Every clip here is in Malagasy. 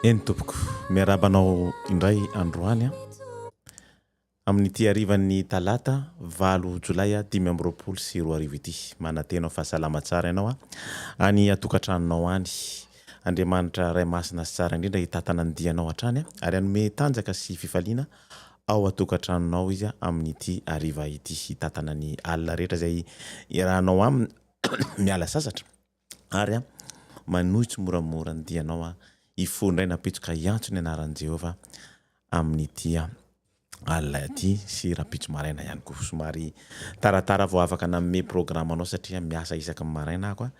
Eny tompoko, miarahaba anao indray androany amin'ity harivan'ny talata valo jolay dimy amby roapolo sy roa arivo ity. Manantena ho fahasalama tsara ianao any an-tokantranonao any. Andriamanitra Ray Masina sy Tsara Indrindra hitantana ny dianao hatrany ary hanome tanjaka sy fifaliana ao an-tokantranonao Izy amin'ity hariva ity. Hitantana ny alina rehetra izay iarahanao Aminy miala sasatra ary manohy tsimoramora ny dianao hifoha indray napitsoka hiantso ny anaran'i Jehovah amin'ity. alina aty sy rapitso maraina ihany koa. Somary taratara vao afaka nanome programa anao satria miasa isaky ny maraina aho ka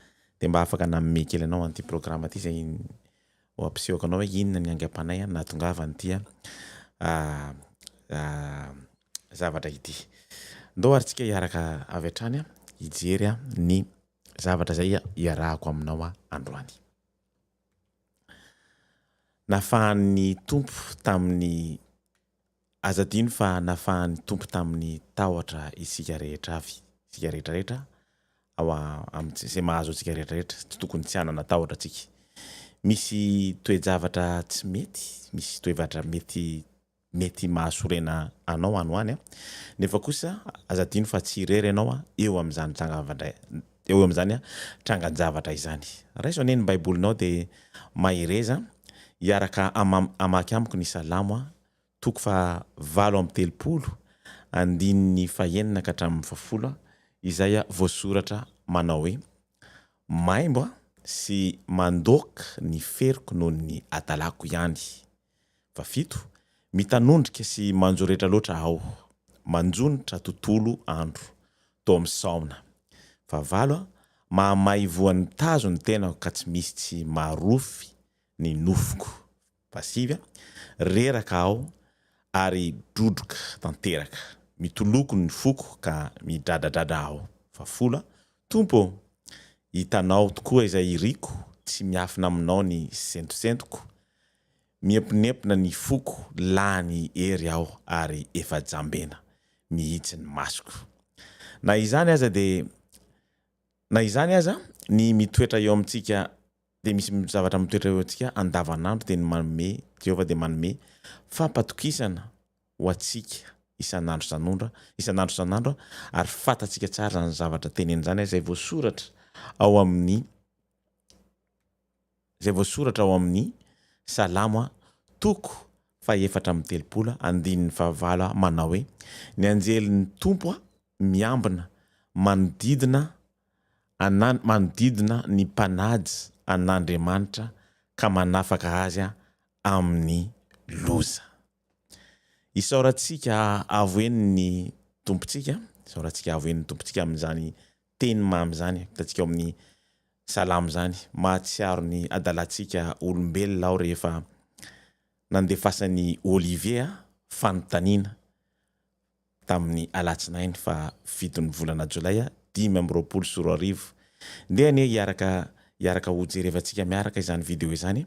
dia mba afaka nanome kely anao an'ity programa ity izay ho ampisehoko anao hoe inona ny aingam-panahy nahatongava an'ity zavatra ity. Ndao ary tsika hiaraka avy hatrany hijery ny zavatra izay iarahako aminao androany. Nafahan'ny Tompo tamin'ny Aza adino fa nafahan'ny Tompo tamin'ny tahotra isika rehetra avy. Isika rehetra rehetra ao amin'ny izay mahazo antsika rehetra rehetra. Tsy tokony tsy hanana tahotra tsika. Misy toe-javatra tsy mety, misy toe-vatra mety mety mahasorena anao any ho any an! nefa kosa aza adino fa tsy irery ianao eo amin'izany tranga-javatra eo amin'izany trangan-javatra izany. Raiso anie ny Baibolinao dia mahereza hiaraka amam hamaky amiko ny Salamo toko fahavalo amby telopolo andininy fahenina ka hatramin'ny fahafolo izay voasoratra manao hoe, Maimbo sy mandoaka ny feriko noho ny hadalako ihany Fa fito, Mitanondrika sy manjo rehetra loatra aho, manjonitra tontolo andro. Tao amin'ny Saona. Fa valo, Mahamay voan'ny mitazo ny tenako ka tsy misy tsy marofy ny nofoko. Fa sivy, Reraka aho ary drodroka tanteraka, mitoloko ny foko ka midradradradra aho. Fa folo, Tompo ô! Hitanao tokoa izay iriko, tsy miafina aminao ny sentosentoko. Miemponempona ny foko, lany hery aho ary efa jambena mihitsy ny masoko. Na izany aza dia Na izany aza, ny mitoetra eo amintsika dia misy zavatra mitoetra eo antsika andavanandro dia ny manome Jehovah dia manome fampatokisana ho antsika isan'andro isan'ondra isan'andro isan'andro ary fantatsika tsara izany zavatra tenenina izany izay voasoratra ao amin'ny izay voasoratra ao amin'ny Salamo toko fahefatra amby telopolo andininy fahavalo manao hoe, Ny anjelin'ny Tompo miambina manodidina ana manodidina ny mpanaja an'Andriamanitra ka manafaka azy amin'ny loza. Isaorantsika avo eny ny Tompontsika, isaorantsika avo eny ny Tompontsika amin'izany teny mamy izany hitantsika ao amin'ny salamo izany, mahatsiaro ny adalantsika olombelona aho rehefa nandefasan'i Olivier fanontaniana tamin'ny alatsinainy faha fitony volana jolay dimy amby roapolo sy roa arivo. Ndeha anie hiaraka hiaraka hojerevantsika miaraka izany video izany.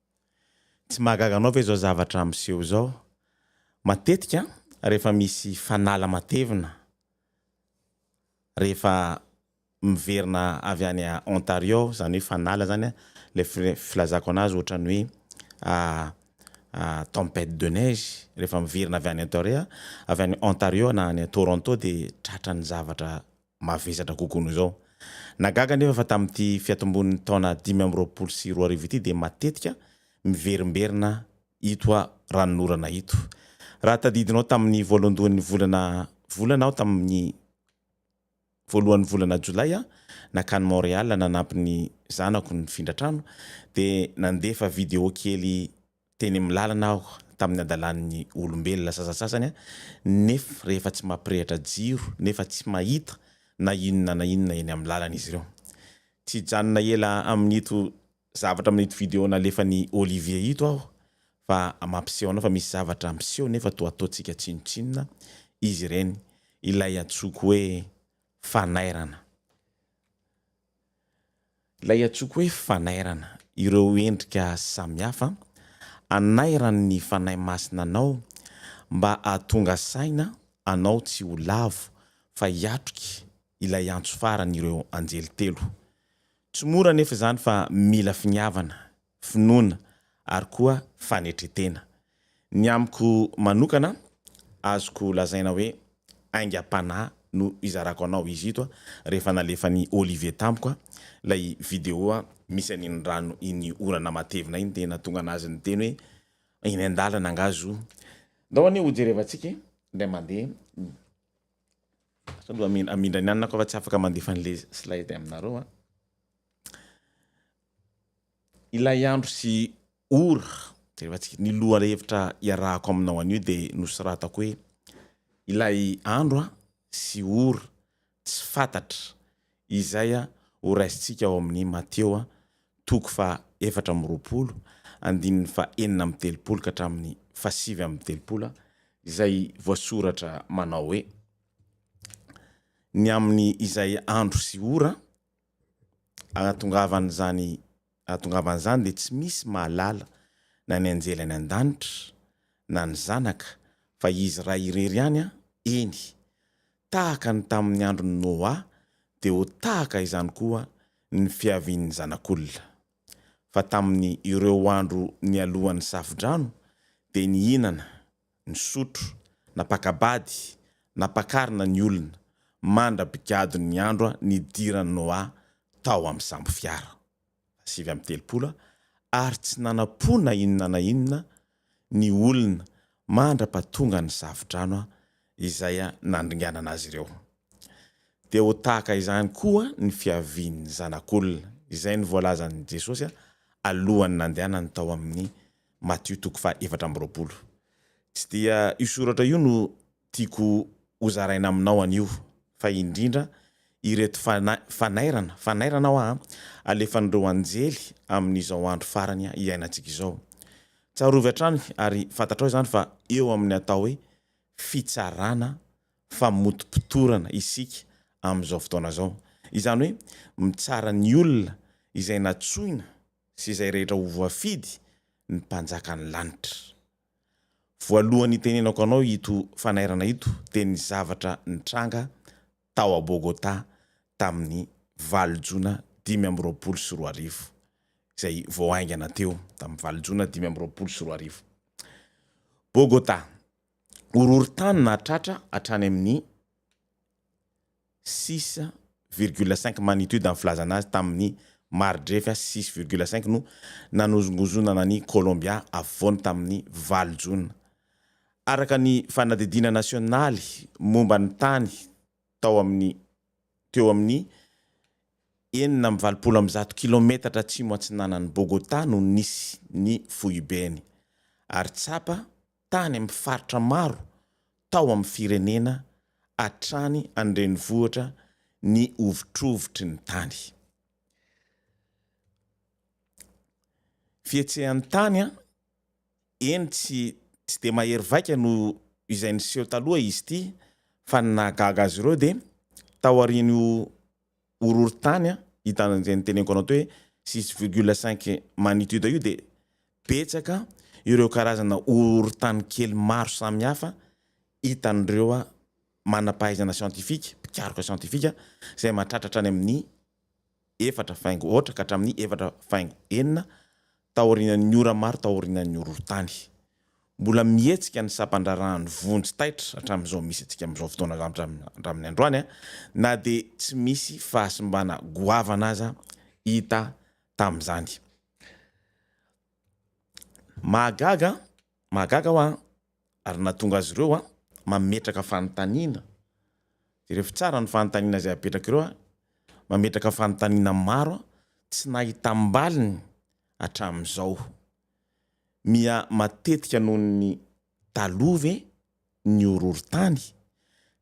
Tsy mahagaga anao ve izao zavatra miseho izao? Matetika rehefa misy fanala matevina, rehefa miverina avy any Ontario aho, izany hoe fanala izany an, ilay filazako an'azy ohatran'ny hoe tempête de neige, rehefa miverina avy any Ontario aho, avy any Ontario aho na any Toronto dia tratran'ny zavatra mavesatra kokoa noho izao. Nahagaga anefa fa tamin'ity fiatombon'ny taona dimy amby roapolo sy roa arivo ity dia matetika miverimberina ito ranonorana ito. Raha tadidinao tamin'ny voalohandohan'ny volana volana aho tamin'ny voalohan'ny volana jolay nakany Montréal nanampy ny zanako nifindra trano dia nandefa video kely Teny amin'ny lalana aho tamin'ny hadalan'ny olombelona sasantsasany nef rehefa tsy mampirehitra jiro nefa tsy mahita na inona na inona eny amin'ny lalana izy ireo. Tsy hijanona ela amin'ito zavatra amin'ito video nalefan'i Olivier ito aho fa mampiseho anao fa misy zavatra miseho nefa toa ataontsika tsinontsinona izy ireny, ilay antsoiko hoe fanairana. Ilay antsoiko hoe fanairana ireo endrika samihafa anairan'ny Fanahy Masina anao mba hahatonga saina anao tsy ho lavo fa hiatrika ilay antso faran'ireo anjely telo. Tsy mora anefa izany fa mila finiavana. finoana ary koa fanetren-tena. Ny amiko manokana, azoko lazaina hoe aingam-panahy no izarako anao izy ito rehefa nalefan'i Olivier tampoka ilay video misy an'iny rano iny orana matevina iny dia nahatonga an'azy niteny hoe eny an-dalana angaha zo Ndao anie hojerevantsika e indray mandeha ny Sao loha hamindra ny anona ko fa tsy afaka mandefa an'le slide aminareo an. Ilay andro sy ora efa tsy ny lohahevitra iarahako aminao anio dia nosoratako hoe ilay andro sy ora tsy fantatra izay ho raisintsika ao amin'ny Mateo toko faha efatra amby roapolo andininy faha enina amby telopolo ka hatramin'ny faha sivy amby telopolo izay voasoratra manao hoe ny amin'ny izay andro sy ora Ahatongavan'izany ahatongavan' izany dia tsy misy mahalala na ny anjely any an-danitra na ny zanaka fa izy iray irery ihany, eny, tahaka ny tamin'ny andron'i Noa dia ho tahaka izany koa ny fiavian'ny Zanak'olona. Fa tamin'ny ireo andro nialohan'ny Safodrano dia nihinana, nisotro, napaka-bady, nampakarina ny olona, mandra-pigadon'ny andro nidiran'i Noa tao amin'ny sambofiara, sivy amby telopolo, ary tsy nanampo na inona na inona ny olona mandra-pahatongan'ny Safo-drano izay nandringanana azy ireo. Dia ho tahaka izany koa ny fiavian'ny Zanak'olona, izay ny voalazan'i Jesosy alohan'ny nandehanany tao amin'ny Matio toko faha efatra amby roapolo. Tsy dia io soratra io no tiako ho zaraina aminao anio fa indrindra ireto fanairana, fanairana hoa a, alefan'ireo anjely amin'izao andro farany iainantsika izao. Tsarovy hatrany ary fantatrao izany fa eo amin'ny atao hoe fitsarana, famotopotorana isika amin'izao fotoana izao. Izany hoe mitsara ny olona izay natsoina sy izay rehetra ho voafidy ny mpanjakan'ny lanitra. Voalohany hitenenako anao ito fanairana ito dia ny zavatra nitranga tao a Bogotà tamin'ny valo jona dimy amby roapolo sy roa arivo, izay vao haingana teo, tamin'ny valo jona dimy amby roapolo sy roa arivo. Bogotà, horohorontany nahatratra hatrany amin'ny. six virgule cinq magnitude ny filazana azy tamin'ny mari-drefy six virgule cinq no nanozongozonana an'i Kolombia afovoany tamin'ny valo jona. Araka ny fanadihadiana nasionaly momba ny tany tao amin'ny teo amin'ny enina amby valopolo amby zato kilometatra atsimo-atsinanan'i Bogotá no nisy ny foibeny ary tsapa tany amin'ny faritra maro tao amin'ny firenena hatrany an-drenivohitra ny hovitrovitry ny tany. Fihetsehan'ny tany an! Eny tsy tsy dia mahery vaika noho izay niseho taloha izy ity fa ny nahagaga azy ireo dia taorian'io horohorontany an, hitanao izay noteneniko anao teo hoe six virgule cinq magnitude io dia betsaka ireo karazana horohorontany kely maro samihafa hitan'ireo manam-pahaizana siantifika, mpikaroka siantifika, izay mahatratra hatrany amin'ny efatra faingo aotra ka hatramin'ny efatra faingo enina taorian'ny ora maro taorian'ny horohorontany. Mbola mihetsika ny sampan-draharahan'ny vonjy taitra hatramin'izao misy antsika amin'izao fotoana izao hatramin'ny androany, na dia tsy misy fahasimbana goavana aza hita tamin'izany. Mahagaga, mahagaga hoa Ary nahatonga azy ireo mametraka fanontaniana. Jereo tsara ny fanontaniana izay apetraka ireo, mametraka fanontaniana maro tsy nahitam-baliny hatramin'izao. Miha matetika noho ny taloha ve ny horohorontany?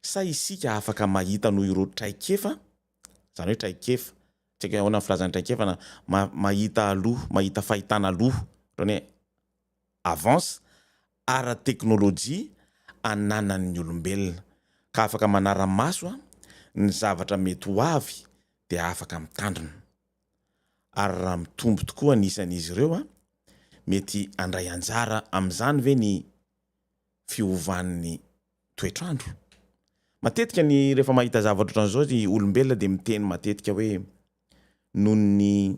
Sa isika afaka mahita noho ireo traikefa, izany hoe traikefa, tsy haiko hoe ahoana ny filazana ny traikefa, mahita aloha, mahita fahitana aloha, ohatran'ny hoe avance ara-teknolojia ananan'ny olombelona ka afaka manara-maso ny zavatra mety ho avy dia afaka mitandrina. Ary raha mitombo tokoa ny isan'izy ireo, mety handray anjara amin'izany ve ny fiovan'ny toetr'andro? Matetika ny rehefa mahita zavatra ohatran'izao ny olombelona dia miteny matetika hoe noho ny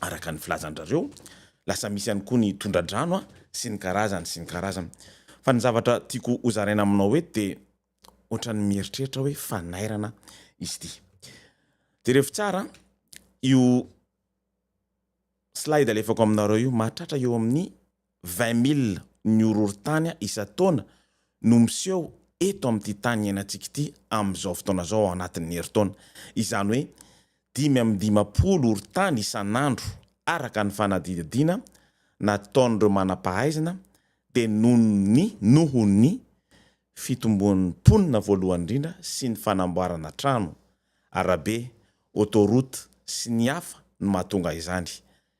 araka ny filazandrareo, lasa misy ihany koa ny tondradrano a, sy ny karazany sy ny karazany. Fa ny zavatra tiako hozaraina aminao eto dia ohatran'ny mieritreritra hoe fanairana izy ity. Jerevo tsara io slide alefako aminareo io, mahatratra eo amin'ny Vingt mille ny horohorontany isan-taona no miseho eto amin'ity tany iainantsika ity amin'izao fotoana izao ao anatin'ny herintaona. Izany hoe dimy amby dimampolo horontany isan'andro araka ny fanadihadiana nataon'ireo manam-pahaizana dia noho ny noho ny fitomboan'ny mponina voalohany indrindra sy ny fanamboarana trano, arabe, autoroute sy ny hafa no mahatonga izany.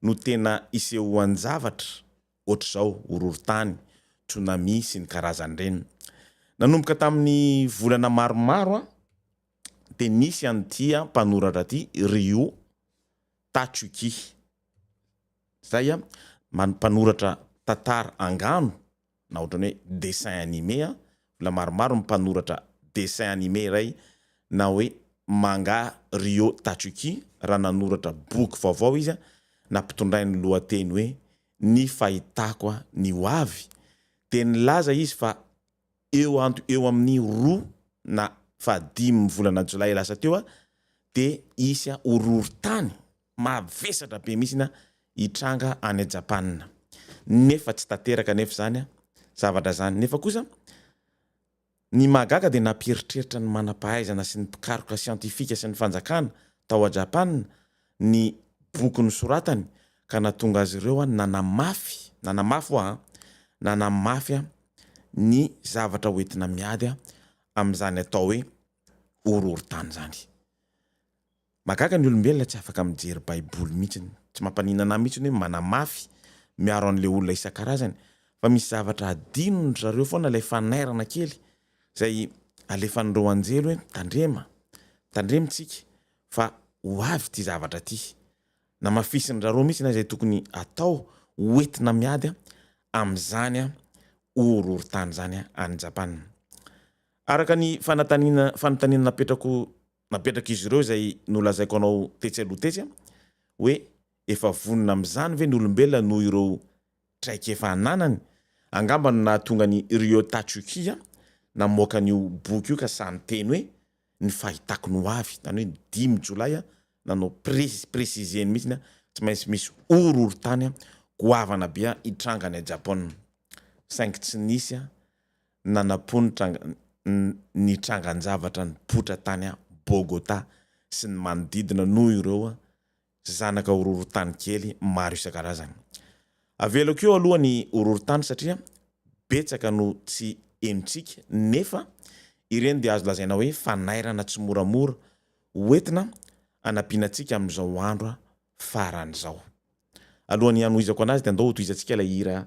no tena isehoan-javatra ohatr'izao, horohorontany, tsunami sy ny karazany ireny. Nanomboka tamin'ny volana maromaro dia nisy an'ity mpanoratra ity, Ryo Tatsuki, izay mpanoratra tantara angano, na ohatran'ny hoe dessin animé an, olona maromaro mpanoratra dessin animé iray na hoe manga Ryo Tatsuki raha nanoratra boky vaovao izy nampitondrainy lohateny hoe Ny fahitako ny ho avy dia nilaza izy fa eo anto eo amin'ny roa na fahadimy volana jolay lasa teo dia hisy horohorontany Mavesatra be mihitsy ny hitranga any Japana nefa tsy tanteraka anefa izany zavatra izany nefa kosa ny mahagaga dia nampieritreritra ny manam-pahaizana sy ny mpikaroka siantifika sy ny fanjakana tao a Japana ny boky nosoratany ka nahatonga azy ireo nanamafy, nanamafy ho'a, nanamafy ny zavatra hoentina miady amin'izany atao hoe horohorontany izany. Mahagaga ny olombelona tsy afaka mijery baiboly mihitsiny. Tsy mampaninana ahy mihitsiny hoe manamafy miaro an'ilay olona isan-karazany fa misy zavatra adinondry zareo foana ilay fanairana kely izay alefan'ireo anjely hoe tandrema, tandremo tsika fa ho avy ity zavatra ity. Namafisin'zareo mihitsy izay tokony atao ho entina miady amin'izany horohorontany izany any Japana. Araka ny fanatanina fanontaniana napetrako napetrak'izy ireo izay nolazaiko anao tetsy aloha tetsy hoe efa vonona amin'izany ve ny olombelona noho ireo traikefa ananany? Angamba no nahatonga an'i Ryo Tatsuki namoaka an'io boky io ka sahy niteny hoe ny fahitako ny ho avy, izany hoe ny dimy jolay, nanao presizieny mihitsy hoe tsy maintsy misy horohorontany goavana be hitranga any Japon, saingy tsy nisy. nanampo ny tranga ny trangan-javatra nipoitra tany Bogotá sy ny manodidina noho ireo zanaka horohorontany kely maro isan-karazany. Avelako eo aloha ny horohorontany satria betsaka no tsy henontsika nefa ireny dia azo lazaina hoe fanairana tsimoramora hoentina hanampiana antsika amin'izao andro farany izao. Alohan'ny hanohizako anazy dia andao hotohizantsika ilay hira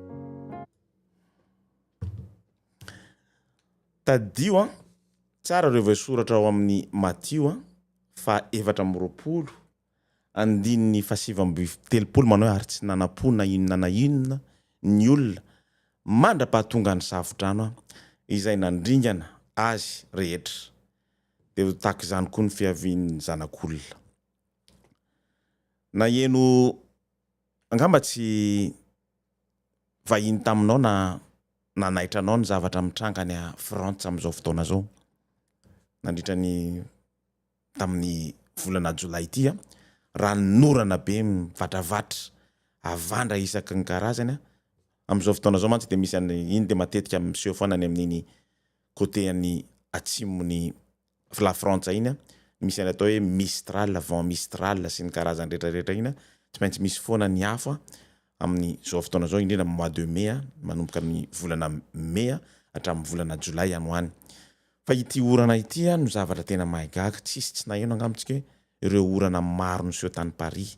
Tadidio an, tsara ireo voasoratra ao amin'ny Matio an, fa efatra amby roapolo, andininy fahasivy amby telopolo manao hoe ary tsy nanampo na inona na inona ny olona mandra-pahatongan'ny safo-drano an, izay nandringana azy rehetra. Dia ho tahaka izany koa ny fiavian'ny Zanak'olona. Naheno angamba tsy vahiny taminao na nanaitra anao ny zavatra mitranga any Frantsa amin'izao fotoana izao nandritra ny tamin'ny volana jolay ity a! raha ny norana be mivatravatra havandra isaky ny karazany amin'izao fotoana izao mantsy dia misy an'i iny dia matetika miseho foana any amin'iny côté an'i atsimon'i la frantsa iny an, misy an'ilay atao hoe mistral, vent mistral sy ny karazany rehetra rehetra iny an, tsy maintsy misy foana ny afo an, amin'ny zao fotoana zao indrindra amin'ny mois de mai an, manomboka ny volana mai an, hatramin'ny volana jolay any ho any. Fa ity orana ity an no zavatra tena mahay gaga, tsisy tsy naheno angamba tsika hoe ireo orana maro niseho tany Paris.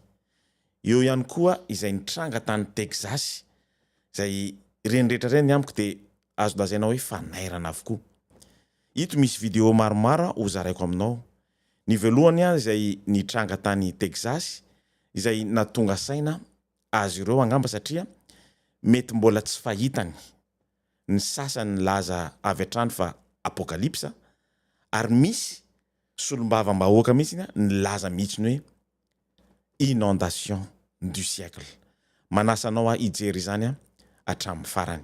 Eo ihany koa izay nitranga tany Texas, izay ireny rehetra ireny amiko dia azo lazaina hoe fanairana avokoa. Ito misy video maromaro ho zaraiko aminao. Ny voalohany ary izay nitranga tany Texas izay natonga saina azy ireo angamba satria mety mbola tsy fahitany ny sasany nilaza avy hatrany fa apokalipsa ary misy solombavambahoaka mihitsy nilaza mihitsy ny hoe inondation du siècle. Manasa anao aho hijery izany hatramin'ny farany.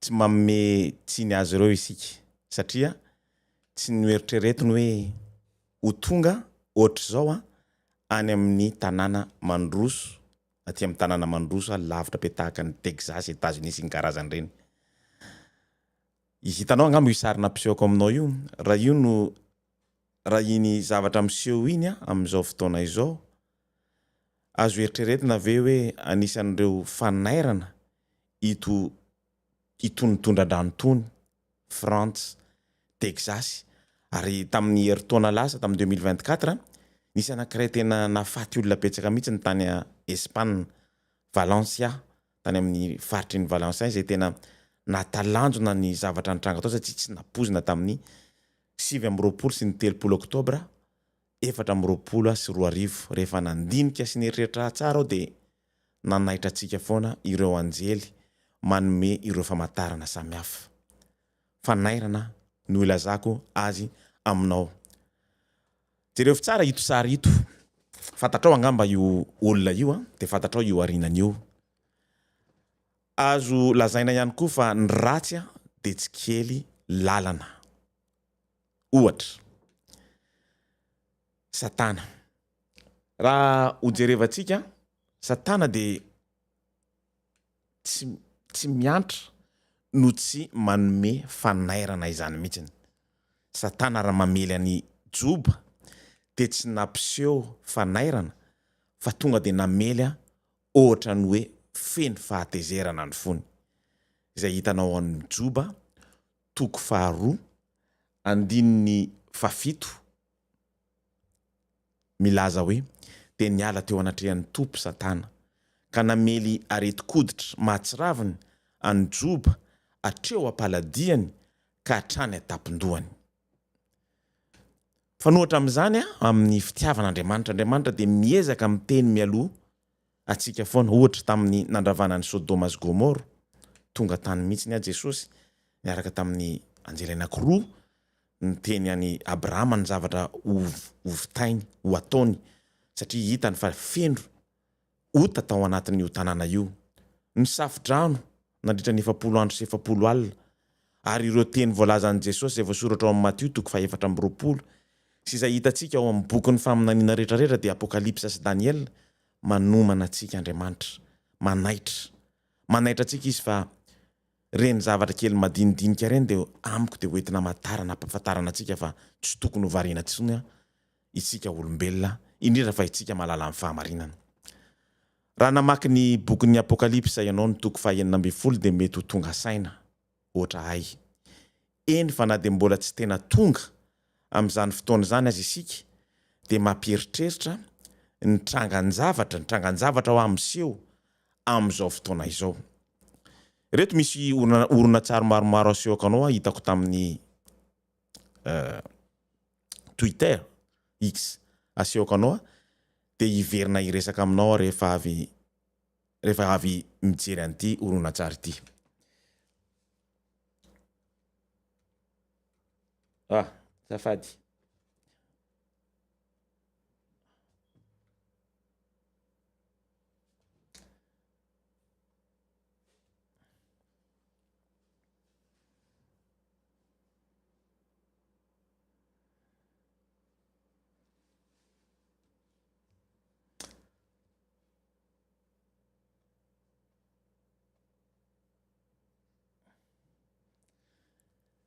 Tsy manome tsiny azy ireo isika, satria tsy noeritreretiny hoe ho tonga hoatr'izao any amin'ny tanàna mandroso, aty amin'ny tanàna mandroso lavitra be tahaka an'i Texas, Etazonia sy ny karazany ireny. Hitanao angamba io sary nampisehoko aminao io, raha io no, raha iny zavatra miseho iny amin'izao fotoana izao, azo eritreretina ve hoe anisan'ireo fanairana ito itony tondra-drano itony, Frantsa, Texasy, ary tamin'ny herintaona lasa, tamin'ny deux mille vingt quatre, nisy anankiray tena nahafaty olona betsaka mihitsy ny tany Espana, Valencia, tany amin'ny faritry ny Valencia izay tena nahatalanjona ny zavatra nitranga tao satria tsy nampoizina tamin'ny sivy amby roapolo sy ny telopolo oktobra efatra amby roapolo sy roa arivo. Rehefa nandinika sy nieritreritra tsara aho dia. nanaitra antsika foana ireo anjely manome ireo famantarana samihafa. Fanairana no ilazako azy aminao. Jerevo tsara ito sary ito. Fantatrao angamba io olona io dia fantatrao io arinany io. Azo lazaina ihany koa fa ny ratsy dia tsy kely lalana. Ohatra, Satana. Raha ho jerevantsika, Satana dia tsy tsy miantra no tsy manome fanairana izany mihitsiny. Satana raha mamely an'i Joba dia tsy nampiseho fanairana fa tonga dia namely aho ohatran'ny hoe feno fahatezerana ny fony. Izay hitanao ao amin'i Joba toko faharoa andininy fahafito milaza hoe, Dia niala teo anatrehan'ny Tompo Satana, ka namely aretin-koditra mahatsiraviny an'i Joba hatreo am-paladiany ka hatrany an-tampon-dohany. Mifanohitra amin'izany amin'ny fitiavan'Andriamanitra, Andriamanitra dia miezaka miteny mialoha antsika foana ohatra tamin'ny nandravana an'i Sodoma sy Gomoro, tonga tany mihitsy aho Jesosy niaraka tamin'ny anjely anankiroa niteny an'i Abrahama ny zavatra ho hovitainy ho ataony satria hitany fa feno ota tao anatin'io tanàna io, ny safo-drano, nandritra ny efapolo andro sy efapolo alina, ary ireo teny voalazan'i Jesosy izay voasoratra ao amin'ny Matio toko fahefatra amby roapolo sy izay hitantsika ao amin'ny bokin'ny faminaniana rehetrarehetra dia Apokalypsa sy Daniela, manomana antsika Andriamanitra, manaitra, manaitra antsika Izy fa ireny zavatra kely madinidinika ireny dia amiko dia hoentina hamantarana, hampafantarana antsika fa tsy tokony ho variana intsony Isika olombelona, indrindra fa isika mahalala ny fahamarinana. Raha namaky ny bokin'ny Apokalypsa ianao ny toko fahenina ambin'ny folo dia mety ho tonga saina, hoatra ahy. Eny fa na dia mbola tsy tena tonga amin'izany fotoana izany aza isika dia mampieritreritra ny trangan-javatra, ny trangan-javatra hoa miseho amin'izao fotoana izao. Ireto misy horonantsary maromaro asehoako anao hoa hitako tamin'ny Twitter, X, asehoko anao dia hiverina hiresaka aminao aho rehefa avy rehefa avy mijery an'ity horonantsary ity. Ah, zafady.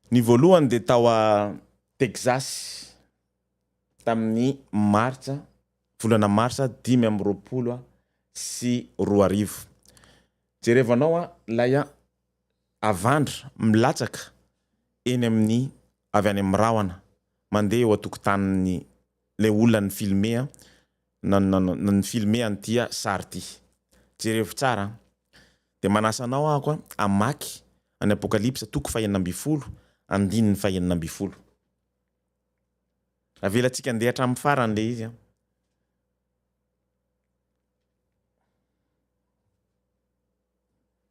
Ny voalohany dia tao a Texas tamin'ny Martsa, volana Marsa dimy amby roapolo sy roa arivo. Jerevanao a, ilay a. Avandra milatsaka eny amin'ny avy any amin'ny rahona mandeha eo an-tokotanin'ny ilay olona ni-filmer an, na na ni-filmer an'ity sary ity. Jerevo tsara an! Dia manasa anao aho koa hamaky an'i Apokalypsa toko fahenina ambin'ny folo, andininy fahenina ambin'ny folo. Avelantsika handeha hatramin'ny farany ilay izy an!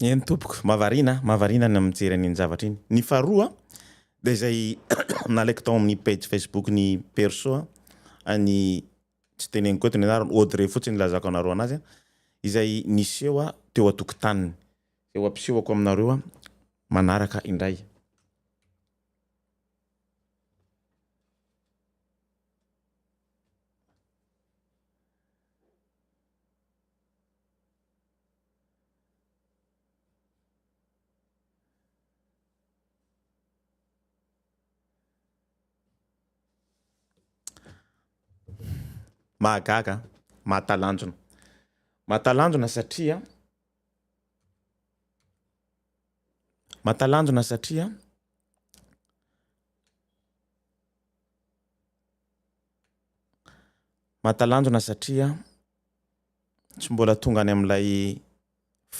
Eny tompoko, mahavariana a, mahavariana ny mijery an'iny zavatra iny. Ny faharoa dia izay nalaiko tao amin'ny page Facebook-n'i Perso an'i tsy teneniko eto ny anarany, Audrey fotsiny ilazako anareo anazy a, izay niseho a teo an-tokotaniny. Izay ho ampisehoko aminareo a manaraka indray. Mahagaga an! Mahatalanjona. Mahatalanjona satria Mahatalanjona satria Mahatalanjona satria tsy mbola tonga any amin'ilay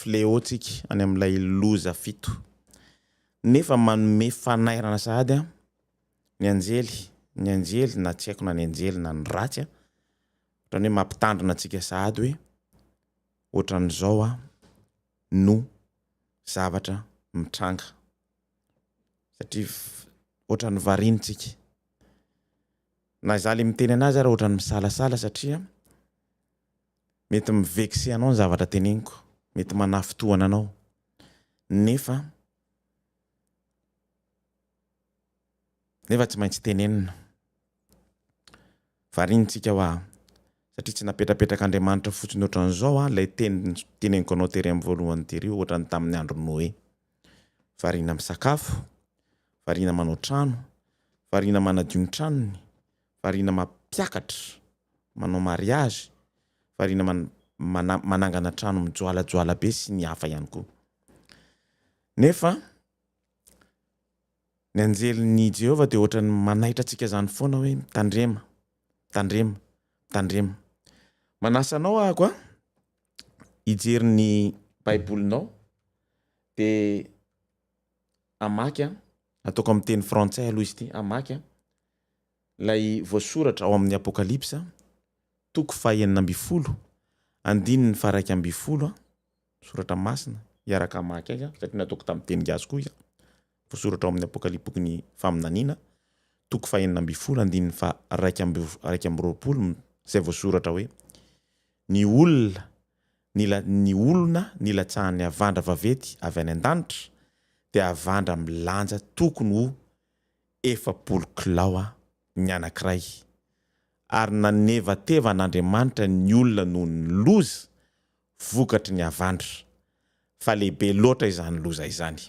fléau-tsika any amin'ilay loza fito. Nefa manome fanairana sahady ny anjely, ny anjely na tsy haiko na ny anjely na ny ratsy, ohatran'ny hoe mampitandrina antsika sahady hoe ohatran'izao no zavatra mitranga. Satria ohatran'ny variantsika. Na izaho ilay miteny an'azy ary ohatran'ny misalasala satria. Mety mi vexer anao ny zavatra teneniko, mety manafintohina anao, nefa nefa tsy maintsy tenenina. Variantsika hoa, satria tsy napetrapetrak'Andriamanitra fotsiny ohatran'izao hoa ilay teny teneniko anao tery amin'ny voalohany tery io ohatran'ny tamin'ny andron'i Noe. Variana misakafo, variana manao trano, variana manadio ny tranony, variana mampiakatra, manao mariazy, variana mana manangana trano mijoalajoala be sy ny hafa ihany koa. Nefa ny anjelin'i Jehovah dia ohatran'ny manaitra antsika izany foana hoe, Mitandrema, mitandrema, mitandrema. Manasa anao aho koa hijery ny Baibolinao, dia hamaky an, ataoko amin'ny teny frantsay aloha izy ity, hamaky an. Ilay voasoratra ao amin'ny Apokalypsa, toko fahenina ambin'ny folo, andininy faha-iraika ambin'ny folo, Soratra Masina, hiaraka hamaky azy aho, satria nataoko tamin'ny teny gasy koa izy. Voasoratra ao amin'ny Apokalypsa, bokin'ny Faminaniana, toko fahenina ambin'ny folo, andininy faha-iraika amby, iraika amby roapolo, izay voasoratra hoe, Ny olona, ny la, ny olona nilatsahan'ny havandra vaventy avy any an-danitra, dia havandra milanja tokony ho efapolo kilao aho, ny anankiray, ary nanevateva an'Andriamanitra ny olona noho ny loza vokatry ny havandra, fa lehibe loatra izany loza izany.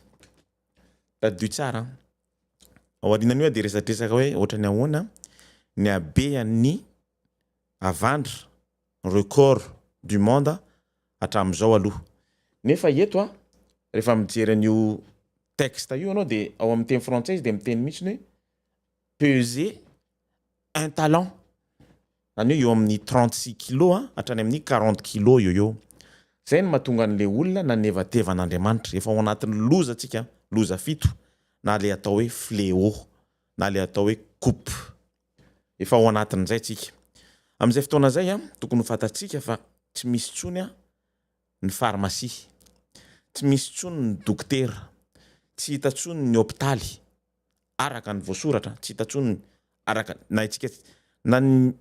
Tadidio tsara an! Ao aorianan'io aho dia resadresaka hoe ohatran'ny ahoana ny habean'ny havandra, record du monde, hatramin'izao aloha. Nefa eto aho, rehefa mijery an'io texte io anao de ao amin'ny teny frantsay izy de miteny mihitsy ny hoe peser un talent zany hoe eo amin'ny trente six kilos a hatrany amin'ny quarante kilos eo eo zay no mahatonga an'le olona nanevateva an'Andriamanitra efa ao anatin'ny loza tsika loza fito na le atao hoe fléau na le atao hoe coupe efa ao anatin'izay tsika amin'izay fotoana zay a tokony ho fantatsika fa tsy misy tsony a ny farmasia, tsy misy intsony ny dokotera, tsy hita intsony ny hopitaly araka ny voasoratra, tsy hita intsony araka na antsika na ny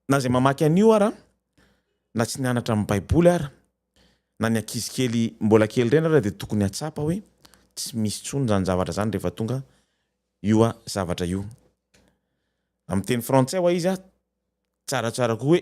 na izay mamaky an'io ara na tsy nianatra amin'ny baiboly ara na ny ankizy kely mbola kely ireny ary dia tokony hahatsapa hoe tsy misy intsony izany zavatra izany rehefa tonga io a zavatra io amin'ny teny frantsay ho'a izy a tsaratsara koa hoe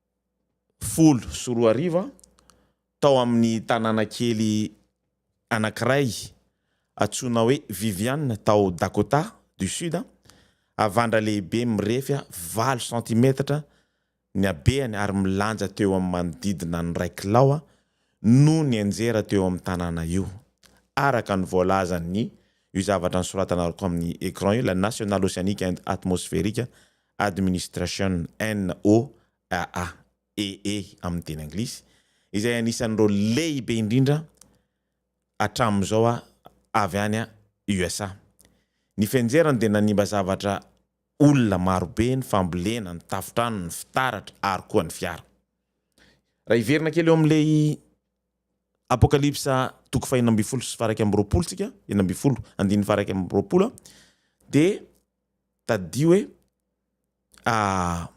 folo sy roa arivo tao amin'ny tanàna kely anankiray antsoina hoe Vivian tao Dakota du Sud, havandra lehibe mirefy valo santimetatra ny habehany ary milanja teo amin'ny manodidina ny iray kilao no nianjera teo amin'ny tanàna io, araka ny voalazan'ny io zavatra nosoratanarco amin'ny écran io, la National Oceanic and Atmospheric Administration, NOAA, EE amin'ny teny anglisy, izay anisan'ireo lehibe indrindra hatramin'izao avy any USA. Ny fenjerany dia nanimba zavatra olona marobe ny fambolena, ny tafontrano, ny fitaratra ary koa ny fiara. Raha hiverina kely eo amin'ilay Apokalypsa toko fahenina ambin'ny folo sy faha iraika amby roapolo tsika, enina ambin'ny folo andininy faha iraika amby roapolo dia tadidio hoe à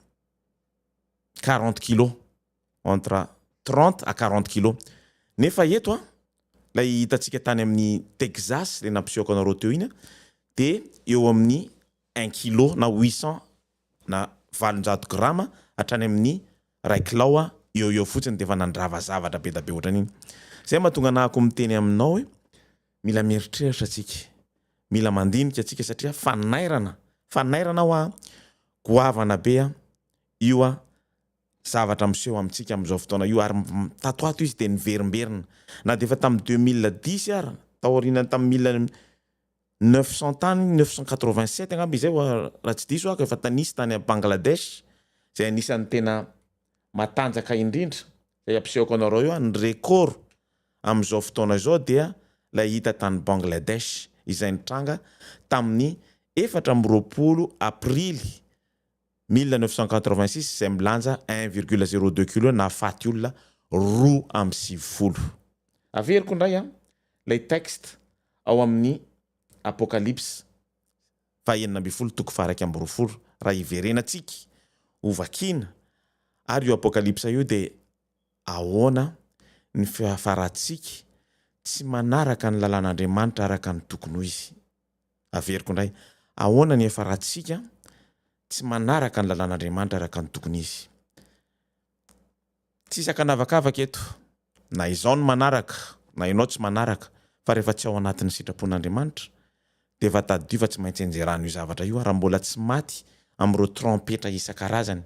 quarante kilos, entre trente à quarante kilos. Nefa eto an, ilay hitantsika tany amin'ny Texas, ilay nampisehoako anareo teo iny an, dia eo amin'ny un kilo na huit cents na valonjato grama hatrany amin'ny iray kilao eo ho eo fotsiny dia efa nandrava zavatra be dia be ohatran'iny. Izay no mahatonga anahako miteny aminao hoe Mila mieritreritra tsika, mila mandinika tsika satria fanairana, fanairana hoa, goavana be a, io a, zavatra miseho amintsika amin'izao fotoana io ary tato ato izy dia niverimberina na dia efa tamin'ny deux mille dix ara, taorianan'ny tamin'ny mille neuf cent tany neuf cent quatre vingt sept angamba izay hoa raha tsy diso aho efa tanisy tany à Bangladesh izay anisan'ny tena matanjaka indrindra izay ampisehoko anareo eo a, ny record. amin'izao fotoana izao dia ilay hita tany Bangladesh izay nitranga tamin'ny efatra amby roapolo Aprily mille neuf cent quatre-vingt-six izay milanja un virgule zéro deux kilos nahafaty olona roa amby sivifolo. Averiko indray an, ilay texte ao amin'ny Apocalypse faha enina ambin'ny folo toko faha iraika amby roapolo raha hiverenantsika ho vakiana ary io Apocalypse io dia Ahoana ny fiafarantsika tsy manaraka ny lalàn'Andriamanitra araka ny tokony ho izy? Averiko indray, ahoana ny hiafarantsika tsy manaraka ny lalàn'Andriamanitra araka ny tokony izy? Tsy isaka an'avakavaka eto, na izao no manaraka, na ianao tsy manaraka, fa rehefa tsy ao anatin'ny sitrapon'Andriamanitra, dia efa tadidio fa tsy maintsy enjerana io zavatra io, ary mbola tsy maty amin'ireo trompetra isan-karazany.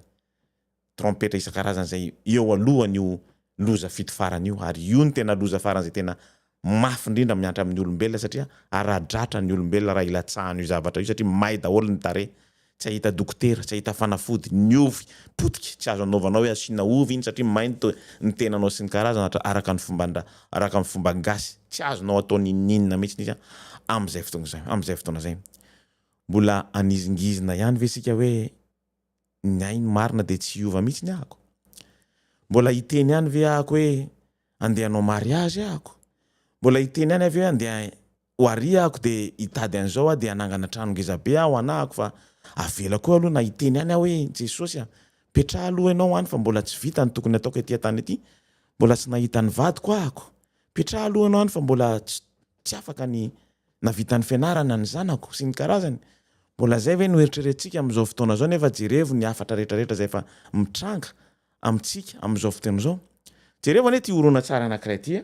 trompetra isan-karazany izay eo alohan'io loza fito farany io, ary io no tena loza farany izay tena mafy indrindra miantra amin'ny olombelona satria ara-dratra ny olombelona raha ilatsahan'io zavatra io satria may daholo ny tarehy, tsy hahita dokotera, tsy hahita fanafody, ny ovy potika, tsy azo anaovanao hoe asiana ovy iny satria may ny ny tenanao sy ny karazana araka ny fomban-dra araka ny fomba gasy, tsy azonao atao n'inon'inona mihitsy izy amin'izay fotoana izay, amin'izay fotoana izay. Mbola hanizingizina ihany ve isika hoe ny ahy ny marina dia tsy hiova mihitsy ny ahako mbola hiteny ihany ve ahako hoe andeha hanao mariazy ahako mbola hiteny ihany avy hoe andeha ho ary ahako dia hitady an'izao aho dia hanangana trano ngeza be aho anahako fa avela koa aloha na hiteny ihany aho hoe jesosy a petraha aloha ianao any fa mbola tsy vita ny tokony ataoko ety an-tany ety mbola tsy nahita ny vadiko ahako petraha aloha ianao any fa mbola tsy afaka ny Navitan'ny fianarana ny zanako sy ny karazany. Mbola izay ve no eritreretintsika amin'izao fotoana izao nefa jerevo ny hafatra rehetrarehetra izay efa mitranga amintsika amin'izao fotoana izao. Jerevo anie ity horonantsary anankiray ity a.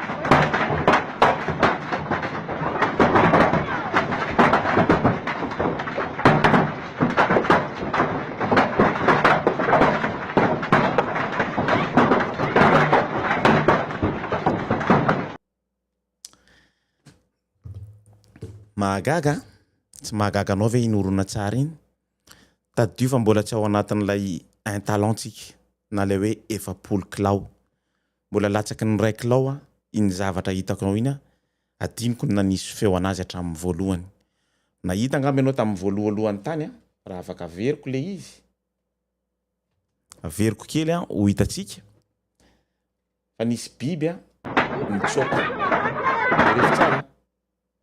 Mahagaga an! Tsy mahagaga anao ve iny horonantsary iny? Tadidio fa mbola tsy ao anatin'ilay un talent-tsika na ilay hoe efapolo kilao. Mbola latsaky ny raikl ao an iny zavatra hitako anao iny an, adinoko ny nanisy feo anazy hatramin'ny voalohany. Nahita angamba ianao tamin'ny voalohalohany tany an, raha afaka averiko ilay izy, averiko kely an ho hitantsika, fa nisy biby an nitsoaka, jereo tsara an.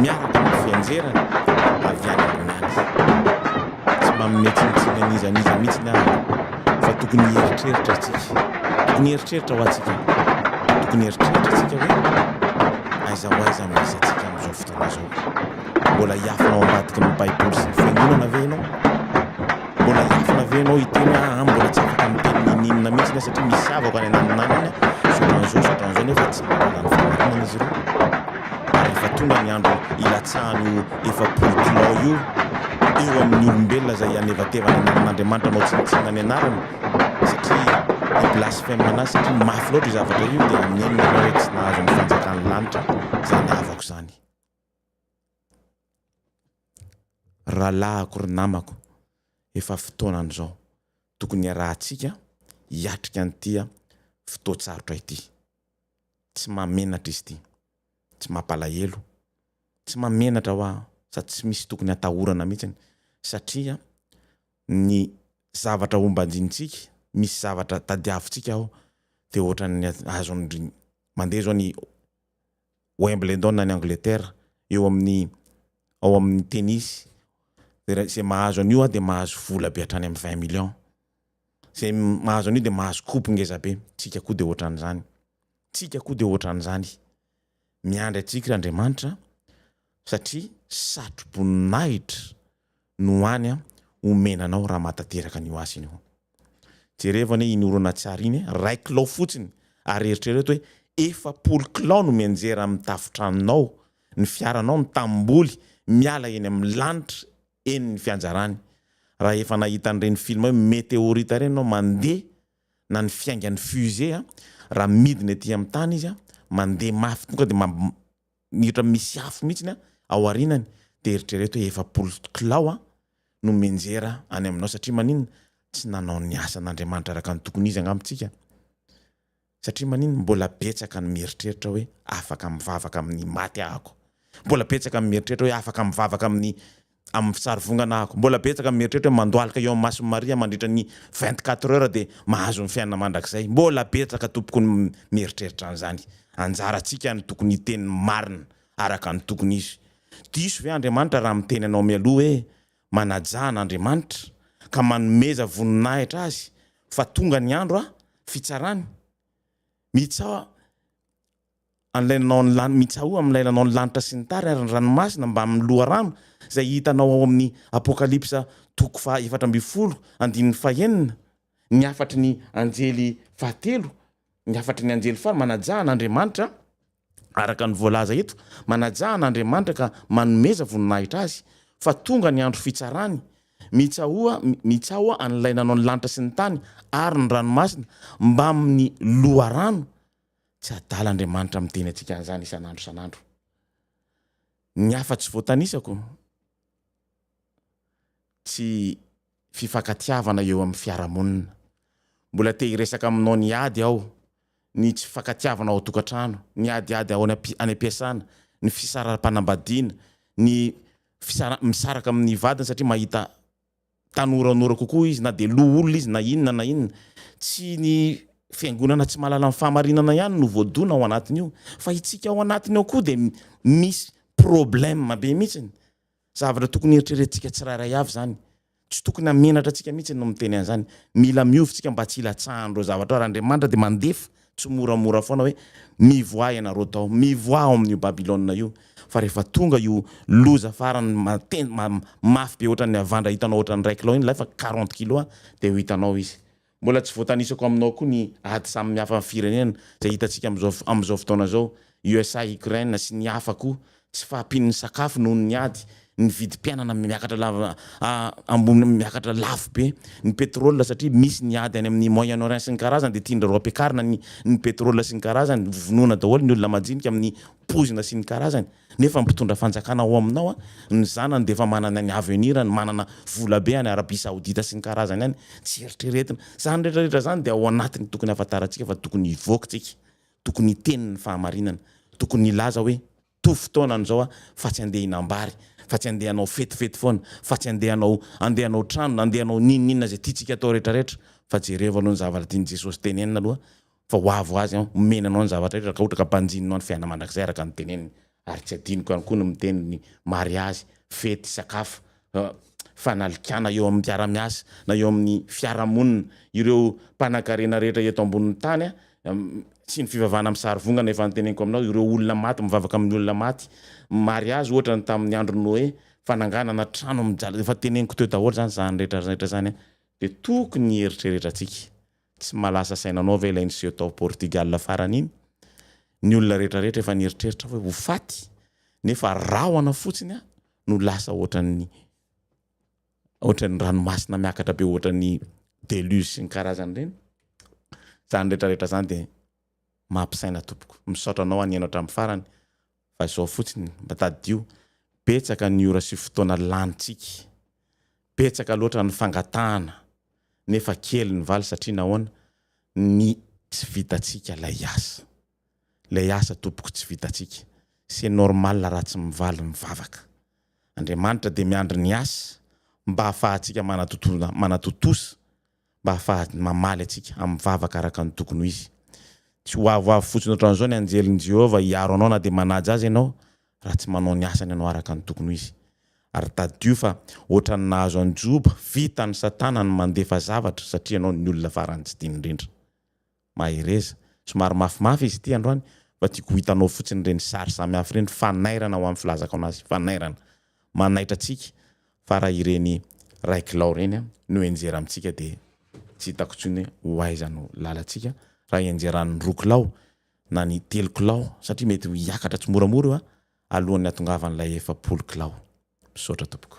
miaraka amin'ny fianjerany avy any ambony any. Tsy manome tsinontsinona an'iza an'iza mihitsy ny Ady fa tokony hieritreritra isika. Tokony hieritreritra ho antsika. Tokony hieritreritra isika hoe aiza ho aiza no misy antsika amin'izao fotoana izao. Mbola hiafina ao ambadiky ny Baiboly sy ny Fiangonana ve ianao? Mbola hiofona ve ianao hiteny hoe aah mbola tsy afaka miteny n'inon'inona mihitsy ianao satria misy zavako any ananonanony zotran'izao zotran'izao nefa tsy mitondra ny fahamarinana izy ireo. Ary efa tonga ny andro hilatsahan'io efapolo kilao io eo amin'ny olombelona izay hihanevatevana ny anan'Andriamanitra manao tsinontsinona ny anarany satria hi-blasphème an'azy satria mafy loatra io zavatra io dia nenina ianao hoe tsy nahazo ny fanjakan'ny lanitra izay ny havako izany. Rahalahiko ry namako, efa fotoanan'izao tokony hiarahantsika hiatrika an'ity fotoan-tsarotra ity. Tsy mahamenatra izy ity, tsy mampalahelo, tsy mahamenatra hoa sady tsy misy tokony hatahorana mihitsy satria ny zavatra hombanjintsika, misy zavatra tadiavintsika ao dia ohatran'ny azon'ny mandeha izao ny Wimbledon any Angleterre eo amin'ny ao amin'ny tennis dia izay mahazo an'io ah dia mahazo vola be hatrany amin'ny vingt millions izay mahazo an'io dia mahazo coupe ngeza be tsika koa dia ohatran'izany tsika koa dia ohatran'izany miandry antsika Andriamanitra satria satro-boninahitra no any omena anao raha mahatanteraka an'io asa iny ianao. Jerevo anie iny horonantsary iny, iray kilao fotsiny ary eritrereto hoe efapolo kilao no mianjera amin'ny tafon-tranonao, ny fiaranao, ny tanimboly miala eny amin'ny lanitra eny ny fianjarany. Raha efa nahita an'ireny film hoe meteorita ireny ianao mandeha na ny fiaingan'ny fusée raha midina ety amin'ny tany izy mandeha mafy tonga dia Minitra misy afo mihitsy an, ao arinany dia eritrereto hoe efapolo kilao no mianjera any aminao satria maninona? tsy nanao ny asan' Andriamanitra araka ny tokony izy angamba tsika satria maninona? mbola betsaka ny mieritreritra hoe afaka mivavaka amin'ny maty ahako, mbola betsaka ny mieritreritra hoe afaka mivavaka amin'ny amin'ny fisarivongana ahako. Mbola betsaka ny mieritreritra hoe mandohalika eo amin'ny mason'i Maria mandritra ny vingt quatre heures dia mahazo ny fiainana mandrakizay. Mbola betsaka tompoko ny mieritreritra an'izany. Anjarantsika ny tokony hiteny ny marina araka ny tokony izy. Diso ve Andriamanitra raha miteny anao mialoha hoe manajà an'Andriamanitra ka manomeza voninahitra azy fa tonga ny andro fitsarany? Mitsaoka an'ilay nanao ny lanitra, mitsaoha amin'ilay nanao ny lanitra sy ny tany ary ny ranomasina mbamin'ny loharano, izay hitanao ao amin'ny Apokalypsa toko faha efatra ambin'ny folo andininy fahenina, ny hafatry ny anjely fahatelo, ny hafatry ny anjely faha, manajà an'Andriamanitra, araka ny voalaza eto, manajà an'Andriamanitra ka manomeza voninahitra Azy, fa tonga ny andro fitsarany, mitsaoha, mitsaoha an'ilay nanao ny lanitra sy ny tany ary ny ranomasina mbamin'ny loharano, Tsy adala Andriamanitra miteny antsika an'izany isan'andro isan'andro. Ny hafa tsy voatanisako, tsy fifankatiavana eo amin'ny fiarahamonina. Mbola te hiresaka aminao ny ady aho, ny tsy fifankatiavana ao an-tokantrano, ny adiady ao any am-piasana, ny fisaram-panambadiana, ny misaraka amin'ny vadiny satria mahita Tanoranora kokoa izy na dia loholona izy na inona na inona. Tsy ny fiangonana tsy mahalala ny fahamarinana ihany no voadona ao anatin'io fa itsika ao anatiny ao koa dia misy problème be mihitsiny. Zavatra tokony heritreretintsika tsirairay avy izany. Tsy tokony hamenatra antsika mihitsy no miteny an'izany. Mila miovy tsika mba tsy hilatsahan'ireo zavatra ireo ary Andriamanitra dia mandefa Tsimoramora foana hoe mivoaha ianareo tao, mivoaha ao amin'io Babylona io, fa rehefa tonga io loza farany maten ma mafy be ohatran'ny havandra hitanao ohatran'ny iray kilao iny ilay fa quarante kilos a, dia ho hitanao izy. Mbola tsy voatanisako aminao koa ny ady samy mihafa firenena izay hitantsika amin'izao amin'izao fotoana izao, USA Ukraine sy ny hafa koa tsy fahampian'ny sakafo noho ny ady, ny vidim-piainana miakatra lava ambony miakatra lafo be, ny pétrole satria misy ny ady any amin'ny Moyen Orient sy ny karazany dia tian-dry-reo ampiakarina ny ny pétrole sy ny karazany, vonoina daholo ny olona majinika amin'ny poizina sy ny karazany nefa ny mpitondra fanjakana ao aminao an, ny zanany dia efa manana ny avenir-ny, manana vola be any Arabie Saoudite sy ny karazany any, tsy eritreretina. Izany rehetra rehetra izany dia ao anatiny tokony hahafantarantsika fa tokony hivoaka tsika Tokony hiteny ny fahamarinana. Tokony hilaza hoe, Toa fotoana an'izao aho, fa tsy handeha hinam-bary, fa tsy handeha hanao fetifety foana, fa tsy handeha hanao handeha hanao trano, na handeha hanao n'inon'inona izay tiantsika atao rehetrarehetra, fa jereo aloha ny zavatra tian'i Jesosy tenenina aloha, fa ho avy ho azy aho, homena anao ny zavatra rehetra, raha ka ohatra ka banjininao ny fiainana mandrakizay araka ny teneniny. Ary tsy adinoko ihany koa ny miteny ny mariazy, fety, sakafo, fanalikana eo amin'ny mpiara-miasa na eo amin'ny fiarahamonina, ireo mpanankarena rehetra eto ambonin'ny tany sy ny fivavahana amin'ny sarivongana efa noteneniko aminao, ireo olona maty mivavaka amin'ny olona maty, mariazy ohatra ny tamin'ny andron'i Noe, fananganana trano mijaly, efa teneniko teo daholo izany izany rehetra rehetra izany dia tokony hieritreretra antsika Tsy malaza saina anao ve ilay niseho tao Portugal farany iny? Ny olona rehetra rehetra efa nieritreritra hoe ho faty nefa rahona fotsiny aho no lasa ohatran'ny ohatran'ny ranomasina miakatra be ohatran'ny deluge sy ny karazany ireny. Izany rehetra rehetra izany dia mampisaina tompoko. Misaotra anao anio ianao hatramin'ny farany Fa izao fotsiny, mba tadidio, betsaka ny ora sy fotoana lanintsika, betsaka loatra ny fangatahana nefa kely ny valy satria nahoana, ny tsy vitantsika ilay asa. Ilay asa tompoko tsy vitantsika. C'est normal raha tsy mivaly ny vavaka. Andriamanitra dia miandry ny asa mba ahafahantsika manatontosa. mba hahafahany mamaly antsika amin'ny vavaka araka ny tokony ho izy. Tsy ho avoavo fotsiny hoatran'izao ny anjelin'i Jehovah hiaro anao na dia manaja aza ianao, raha tsy manao ny asany ianao araka ny tokony ho izy. Ary tadidio fa hoatran'ny nahazo an'i Joba, vitan'i Satana ny mandefa zavatra satria ianao ny olona farany tsy tiany indrindra. Mahereza. Somary mafimafy izy ity androany fa tiako ho hitanao fotsiny ireny sary samihafa ireny fanairana ho an'ny filazako anazy fanairana manaitra antsika fa raha ireny Ray Kilao ireny no henjera amintsika dia tsy hitako intsony hoe ho aiza no lalantsika raha henjeran'ny roa kilao na ny telo kilao satria mety ho hiakatra tsimoramora io a alohan'ny hatongavan'ilay efapolo kilao. Misaotra tompoko.